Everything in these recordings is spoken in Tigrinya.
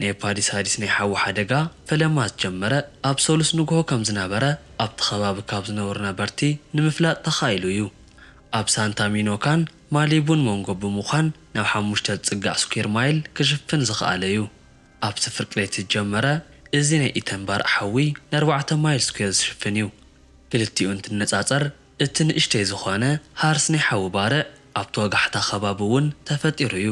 ናይ ፓዲስ ሃዲስ ናይ ሓዊ ሓደጋ ፈለማ ዝጀመረ ኣብ ሰሉስ ንግሆ ከም ዝነበረ ኣብቲ ከባቢ ካብ ዝነብሩ ነበርቲ ንምፍላጥ ተኻኢሉ እዩ። ኣብ ሳንታ ሚኖካን ማሊቡን መንጎ ብምዃን ናብ ሓሙሽተ ዝጽጋዕ ስኲር ማይል ክሽፍን ዝኸኣለ እዩ። ኣብቲ ፍርቂ ለይቲ ዝጀመረ እዚ ናይ ኢተን ባርዕ ሓዊ ንኣርባዕተ ማይል ስኲር ዝሽፍን እዩ። ክልቲኡ እንትነጻጸር እቲ ንእሽተይ ዝኾነ ሃርስ ናይ ሓዊ ባርዕ ኣብቲ ወጋሕታ ከባቢ እውን ተፈጢሩ እዩ።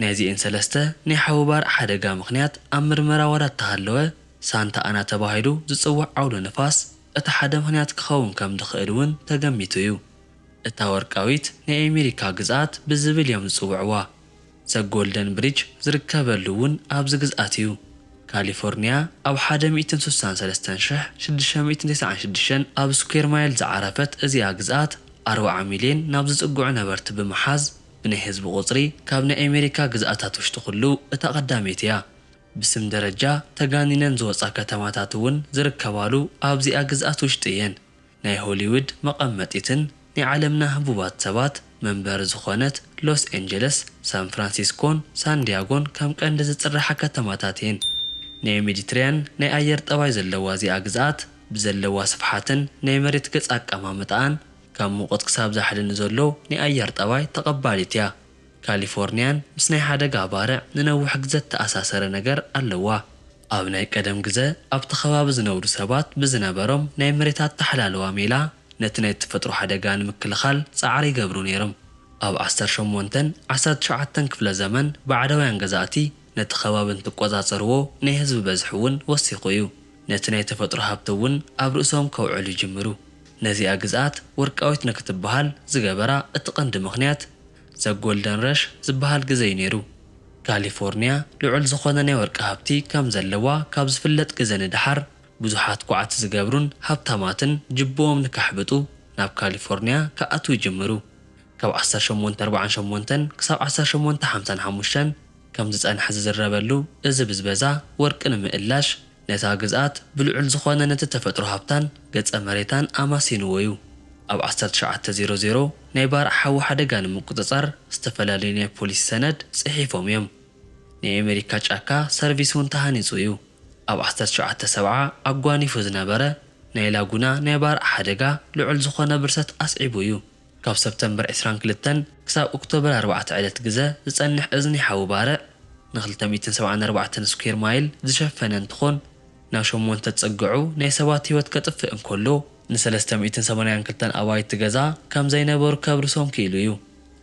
ናይ እዚኤን ሰለስተ ናይ ሓዊ ባርዕ ሓደጋ ምኽንያት ኣብ ምርመራ ዋላ እተሃለወ፣ ሳንታ ኣና ተባሂሉ ዝጽዋዕ ዓውሎ ንፋስ እቲ ሓደ ምኽንያት ክኸውን ከም ዝኽእል እውን ተገሚቱ እዩ። እታ ወርቃዊት ናይ ኣሜሪካ ግዝኣት ብዝብል እዮም ዝፅውዕዋ። ዘ ጎልደን ብሪጅ ዝርከበሉ እውን ኣብዚ ግዝኣት እዩ። ካሊፎርኒያ ኣብ ሓደ ሚእትን ስሳን ሰለስተን ሽሕ ሽዱሽተ ሚእትን ተስዓን ሽዱሽተን ኣብ ስኩዌር ማይል ዝዓረፈት እዚኣ ግዝኣት ኣርብዓ ሚልየን ናብ ዝፅግዑ ነበርቲ ብምሓዝ ብናይ ህዝቢ ቁፅሪ ካብ ናይ ኣሜሪካ ግዝኣታት ውሽጢ ኩሉ እታ ቀዳመይቲ እያ። ብስም ደረጃ ተጋኒነን ዝወፃ ከተማታት እውን ዝርከባሉ ኣብዚኣ ግዝኣት ውሽጢ እየን። ናይ ሆሊውድ መቐመጢትን ናይ ዓለምና ህቡባት ሰባት መንበሪ ዝኾነት ሎስ ኤንጀለስ፣ ሳን ፍራንሲስኮን ሳን ዲያጎን ከም ቀንዲ ዝፅርሓ ከተማታት እየን። ናይ ሜዲትሪያን ናይ ኣየር ጠባይ ዘለዋ እዚኣ ግዝኣት ብዘለዋ ስፍሓትን ናይ መሬት ገፅ ኣቀማምጣኣን ካብ ሙቕት ክሳብ ዛሕሊ ንዘሎ ናይ ኣየር ጠባይ ተቐባሊት እያ። ካሊፎርኒያን ምስ ናይ ሓደጋ ባርዕ ንነዊሕ ግዘ ዝተኣሳሰረ ነገር ኣለዋ። ኣብ ናይ ቀደም ግዘ ኣብቲ ከባቢ ዝነብሩ ሰባት ብዝነበሮም ናይ መሬት ኣተሓላልዋ ሜላ ነቲ ናይ ተፈጥሮ ሓደጋ ንምክልኻል ፃዕሪ ይገብሩ ነይርም። ኣብ ዓሰርተ ሸሞንተን ዓሰርተ ትሽዓተን ክፍለ ዘመን ባዕዳውያን ገዛእቲ ነቲ ከባቢ እንትቆፃፀርዎ ናይ ህዝቢ በዝሒ እውን ወሲኹ እዩ። ነቲ ናይ ተፈጥሮ ሃብቲ እውን ኣብ ርእሶም ከውዕሉ ይጅምሩ። ነዚኣ ግዝኣት ወርቃዊት ንክትበሃል ዝገበራ እቲ ቀንዲ ምኽንያት፣ ዘ ጎልደን ረሽ ዝበሃል ግዘ'ዩ ነይሩ። ካሊፎርኒያ ልዑል ዝኾነ ናይ ወርቂ ሃብቲ ከም ዘለዋ ካብ ዝፍለጥ ግዘ ንደሓር፣ ብዙሓት ኳዕቲ ዝገብሩን ሃብታማትን ጅብኦም ንከሕብጡ ናብ ካሊፎርኒያ ክኣትዉ ይጅምሩ። ካብ ዓሰርተ ሸሞንተ ኣርብዓን ሸሞንተን ክሳብ ዓሰርተ ሸሞንተ ሓምሳን ሓሙሽተን ከም ዝፀንሐ ዝዝረበሉ እዚ ብዝበዛ ወርቂ ንምእላሽ፣ ነታ ግዝኣት ብልዑል ዝኾነ ነቲ ተፈጥሮ ሃብታን ገጸ መሬታን ኣማሲንዎ'ዩ። ኣብ ዓሰርተ ትሽዓተ ዜሮ ዜሮ ናይ ባርዕ ሓዊ ሓደጋ ንምቁጽጻር ዝተፈላለዩ ናይ ፖሊሲ ሰነድ ጽሒፎም እዮም። ናይ ኣሜሪካ ጫካ ሰርቪስ ውን ተሃኒጹ እዩ። ኣብ ዓሰርተ ትሽዓተ ሰብዓ ኣጓኒፉ ዝነበረ ናይ ላጉና ናይ ባርዕ ሓደጋ ልዑል ዝኾነ ብርሰት ኣስዒቡ እዩ። ካብ ሰፕተምበር ዕስራን ክልተን ክሳብ ኦክቶበር ኣርባዕተ ዕለት ግዘ ዝፀንሕ እዚ ናይ ሓዊ ባርዕ ንክልተ ሚእትን ሰብዓን ኣርባዕተን ስኲር ማይል ዝሸፈነ እንትኾን ናብ ሸሞንተ ዝፀግዑ ናይ ሰባት ህይወት ከጥፍእ እንከሎ ንሰለስተ ሚእትን ሰማንያን ክልተን ኣባይቲ ገዛ ከምዘይነበሩ ከብርሶም ክኢሉ እዩ።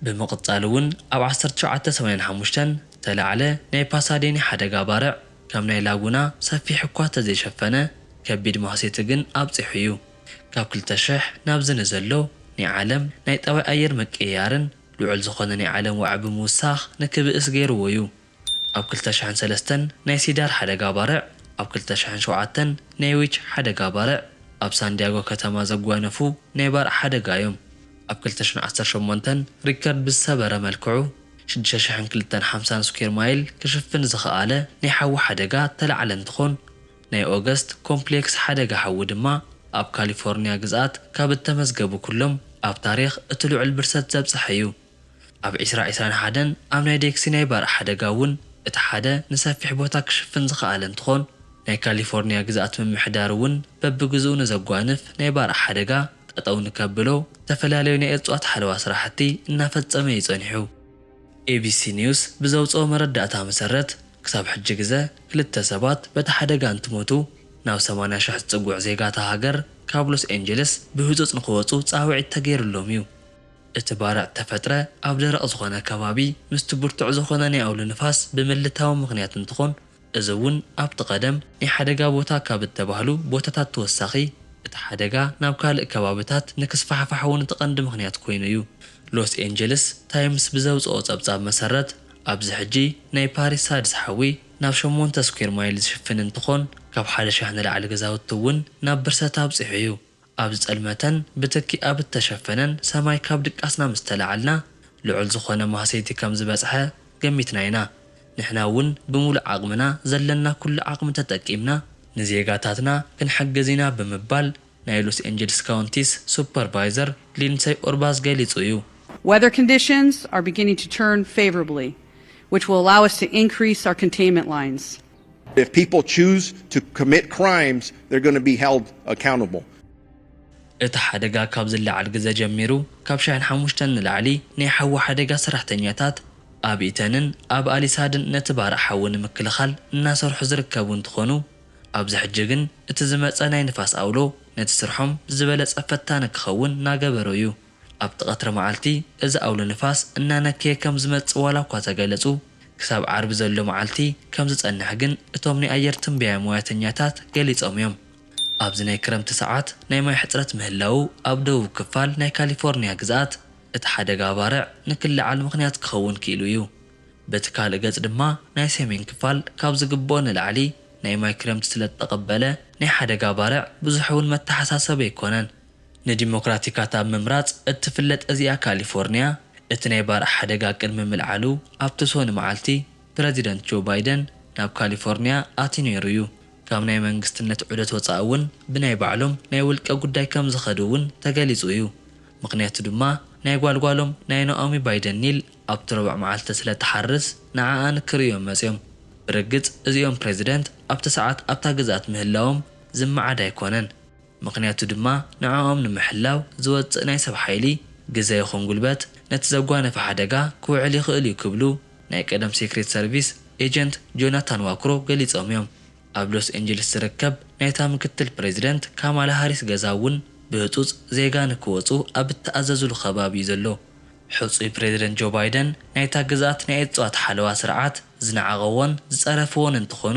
ብምቕፃል እውን ኣብ ዓሰርተ ትሽዓተ ሰማንያን ሓሙሽተን ዝተላዕለ ናይ ፓሳዴኒ ሓደጋ ባርዕ ከም ናይ ላጉና ሰፊሕ እኳ ተዘይሸፈነ ከቢድ ማህሰይቲ ግን ኣብፂሑ እዩ። ካብ ክልተ ሽሕ ናብዚ ንዘሎ ናይ ዓለም ናይ ጠባይ ኣየር ምቅይያርን ልዑል ዝኾነ ናይ ዓለም ዋዒ ብምውሳኽ ንክብእስ ገይርዎ ዩ። ኣብ ክልተ ሽሕን ሰለስተን ናይ ሲዳር ሓደጋ ባርዕ፣ ኣብ ክልተ ሽሕን ሸውዓተን ናይ ዊች ሓደጋ ባርዕ ኣብ ሳንዲያጎ ከተማ ዘጓነፉ ናይ ባርዕ ሓደጋ ዮም። ኣብ ክልተ ሽሕን ዓሰርተ ሸሞንተን ሪከርድ ብዝሰበረ መልክዑ ሽዱሽተ ሽሕን ክልተን ሓምሳን ስኩዌር ማይል ክሽፍን ዝኸኣለ ናይ ሓዊ ሓደጋ እተላዕለ እንትኾን፣ ናይ ኦገስት ኮምፕሌክስ ሓደጋ ሓዊ ድማ ኣብ ካሊፎርንያ ግዝኣት ካብ እተመዝገቡ ኩሎም ኣብ ታሪኽ እቲ ልዑል ብርሰት ዘብጽሐ እዩ። ኣብ ዕስራ ዕስራን ሓደን ኣብ ናይ ዴክሲ ናይ ባርዕ ሓደጋ እውን እቲ ሓደ ንሰፊሕ ቦታ ክሽፍን ዝኸኣለ እንትኾን፣ ናይ ካሊፎርንያ ግዝኣት ምምሕዳር እውን በብግዝኡ ንዘጓንፍ ናይ ባርዕ ሓደጋ ጠጠው ንከብሎ እተፈላለዩ ናይ እፅዋት ሓለዋ ስራሕቲ እናፈፀመ እዩ ፀኒሑ። ኤቢሲ ኒውስ ብዘውጽኦ መረዳእታ መሰረት፣ ክሳብ ሕጂ ግዘ ክልተ ሰባት በቲ ሓደጋ እንትሞቱ፣ ናብ ሰማንያ ሽሕ ዝጽጉዕ ዜጋ እታ ሃገር ካብ ሎስ ኤንጀለስ ብህጹጽ ንክወጹ ጻውዒት ተገይርሎም እዩ። እቲ ባርዕ እተፈጥረ ኣብ ደረቕ ዝኾነ ከባቢ ምስቲ ብርቱዕ ዝኾነ ናይ ኣውሎ ንፋስ ብምልታዊ ምኽንያት እንትኾን፣ እዚ እውን ኣብቲ ቀደም ናይ ሓደጋ ቦታ ካብ እተባህሉ ቦታታት ተወሳኺ እቲ ሓደጋ ናብ ካልእ ከባብታት ንክስፋሕፋሕ እውን እቲ ቀንዲ ምኽንያት ኮይኑ እዩ። ሎስ ኤንጀልስ ታይምስ ብዘውጽኦ ጸብጻብ መሰረት ኣብዚ ሕጂ ናይ ፓሪስ ሳድስ ሓዊ ናብ ሸሞንተ ስኲር ማይል ዝሽፍን እንትኾን ካብ ሓደ ሸሕ ንላዕሊ ገዛውቲ እውን ናብ ብርሰት ኣብጺሑ እዩ። ኣብ ዝጸልመተን ብትኪ ኣብ እተሸፈነን ሰማይ ካብ ድቃስና ምስ ተላዓልና፣ ልዑል ዝኾነ ማህሰይቲ ከም ዝበጽሐ ገሚትና ኢና። ንሕና እውን ብምሉእ ዓቕምና ዘለና ኩሉ ዓቕሚ ተጠቂምና፣ ንዜጋታትና ክንሕግዝ ኢና ብምባል ናይ ሎስ ኤንጀልስ ካውንቲስ ሱፐርቫይዘር ሊንሰይ ኡርባዝ ገሊጹ እዩ። Weather conditions are beginning to turn favorably, which will allow us to increase our containment lines. If people choose to commit crimes, they're going to be held accountable. እቲ ሓደጋ ካብ ዝለዓል ግዘ ጀሚሩ ካብ ሻዕን ሓሙሽተን ንላዕሊ ናይ ሓዊ ሓደጋ ሰራሕተኛታት ኣብ ኢተንን ኣብ ኣሊሳድን ነቲ ባርዕ ሓዊ ንምክልኻል እናሰርሑ ዝርከቡ እንትኾኑ ኣብዚ ሕጂ ግን እቲ ዝመፀ ናይ ንፋስ ኣውሎ ነቲ ስርሖም ዝበለፀ ፈታኒ ክኸውን ናገበሮ ዩ። ኣብቲ ቀትሪ መዓልቲ እዚ ኣውሎ ንፋስ እናነከየ ከም ዝመጽእ ዋላ እኳ ተገለጹ፣ ክሳብ ዓርቢ ዘሎ መዓልቲ ከም ዝጸንሕ ግን እቶም ናይ ኣየር ትንበያ ሞያተኛታት ገሊጾም እዮም። ኣብዚ ናይ ክረምቲ ሰዓት ናይ ማይ ሕጽረት ምህላዉ ኣብ ደቡብ ክፋል ናይ ካሊፎርንያ ግዝኣት እቲ ሓደጋ ባርዕ ንክለዓል ምኽንያት ክኸውን ክኢሉ እዩ። በቲ ካልእ ገጽ ድማ ናይ ሰሜን ክፋል ካብ ዝግብኦ ንላዕሊ ናይ ማይ ክረምቲ ስለእተቐበለ ናይ ሓደጋ ባርዕ ብዙሕ'ውን መተሓሳሰቢ ኣይኮነን። ንዲሞክራቲካት ኣብ ምምራጽ እትፍለጥ እዚኣ ካሊፎርንያ፣ እቲ ናይ ባርዕ ሓደጋ ቅድሚ ምልዓሉ ኣብ ተሶኒ መዓልቲ፣ ፕረዚደንት ጆ ባይደን ናብ ካሊፎርንያ ኣትዩ ነይሩ እዩ። ካብ ናይ መንግስትነት ዑደት ወጻኢ እውን ብናይ ባዕሎም ናይ ውልቀ ጉዳይ ከም ዝኸዱ እውን ተገሊጹ እዩ። ምኽንያቱ ድማ ናይ ጓል ጓሎም ናይ ናኦሚ ባይደን ኒል ኣብቲ ረቡዕ መዓልቲ ስለ እትሓርስ ንዓኣ ንክርእዩ እዮም መጺኦም። ብርግጽ እዚኦም ፕረዚደንት ኣብቲ ሰዓት ኣብታ ግዝኣት ምህላዎም ዝመዓድ ኣይኮነን። ምኽንያቱ ድማ ንዕኦም ንምሕላው ዝወጽእ ናይ ሰብ ሓይሊ፣ ግዘ ይኹን ጉልበት ነቲ ዘጓነፈ ሓደጋ ክውዕል ይኽእል እዩ ክብሉ ናይ ቀደም ሴክሬት ሰርቪስ ኤጀንት ጆናታን ዋክሮ ገሊጾም እዮም። ኣብ ሎስ ኤንጅልስ ዝርከብ ናይታ ምክትል ፕረዚደንት ካማላ ሃሪስ ገዛ እውን ብህጹጽ ዜጋ ንክወጹ ኣብ እተኣዘዙሉ ከባቢ እዩ ዘሎ። ሕጹይ ፕረዚደንት ጆ ባይደን ናይታ ግዝኣት ናይ እጽዋት ሓለዋ ስርዓት ዝነዓቐዎን ዝጸረፍዎን እንትኾኑ፣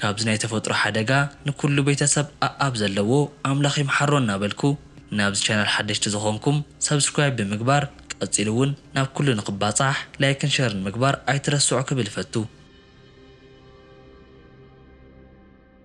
ካብዚ ናይ ተፈጥሮ ሓደጋ ንኩሉ ቤተሰብ ኣኣብ ዘለዎ ኣምላኽ ይምሓሮ እናበልኩ ናብዚ ቻናል ሓደሽቲ ዝኾንኩም subscribe ብምግባር ቀጺሉ ውን ናብ ኩሉ ንክባጻሕ ላይክን ሸርን ምግባር ኣይትረስዑ ክብል እፈቱ።